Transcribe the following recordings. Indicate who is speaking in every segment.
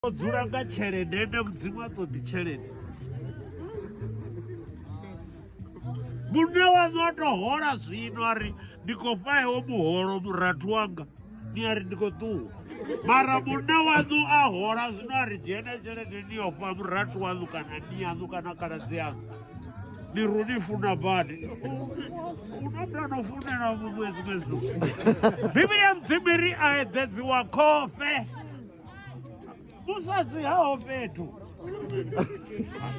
Speaker 1: o dzula nga tshelede ende mudzimu a ṱoḓi tshelede munna waṋu a tou hola zwino a ri ndi khou fhaewo muholo murathu wanga ni a ri ndi khou ṱuwa mara munna waṋu a hola zwino a ri dzhene tshelede ni yo fha murathu waṋu kana ni yaṋu kana khaladzi yaṋu ni ru ni funa badi unotano funela muṅwe zwiṅwe zwithu bivhili ya mudzimu ri a eḓedziwa khofhe musadzi haho fhethu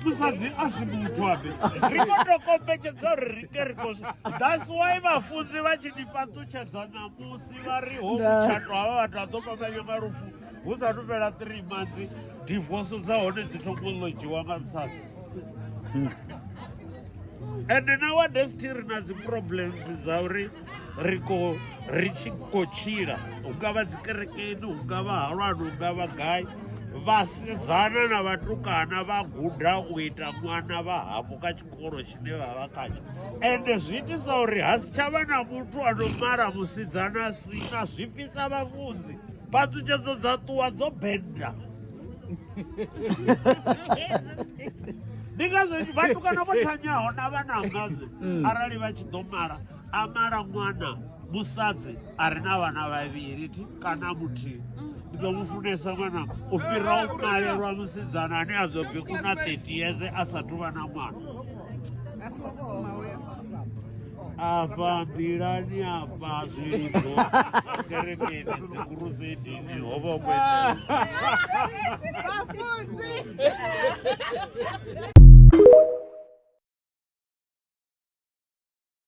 Speaker 1: musadzi a si muthu abe ri kho to kombetshedza uri ri ke ri kho that's why vhafunzi vha tshi ni fhaṱutshedza ṋamusi vha ri ho mutshato havha vhathu a ḓo fhambanya nga lufu hu sa tu fhela three months divorce dza hone dzi thoma u lodzhiwa nga musadzi hmm. ende nowadays thi ri na dzi problems dza uri ri ko ri tshi khou tshila hu nga vha dzikerekeni hu nga vha halwani hu nga vha gai vhasidzana na vhatukana vha guda u ita ṅwana vha hafhu kha tshikolo tshine vha vha khatsho ende zwi itisa uri ha si tsha vha na muthu ano mala musidzana si na zwi fhisa vhafunzi phaṱhutshedzo dza ṱuwa dzo benda ndi ngazwo vhatukana vho thanyaho na vhanangazi mm. arali vha tshi ḓo mala a mala ṅwana musadzi a re na vhana vhavhili ti kana muthihi ndi ḓo mu funesa ṅwana u fhira u malelwa musidzana ane a ḓo bvi kuna 30 yeze a sa thu vha na ṅwana afha nḓilani afha zwilidzo kerekeni dzikurufedini ho vha kwete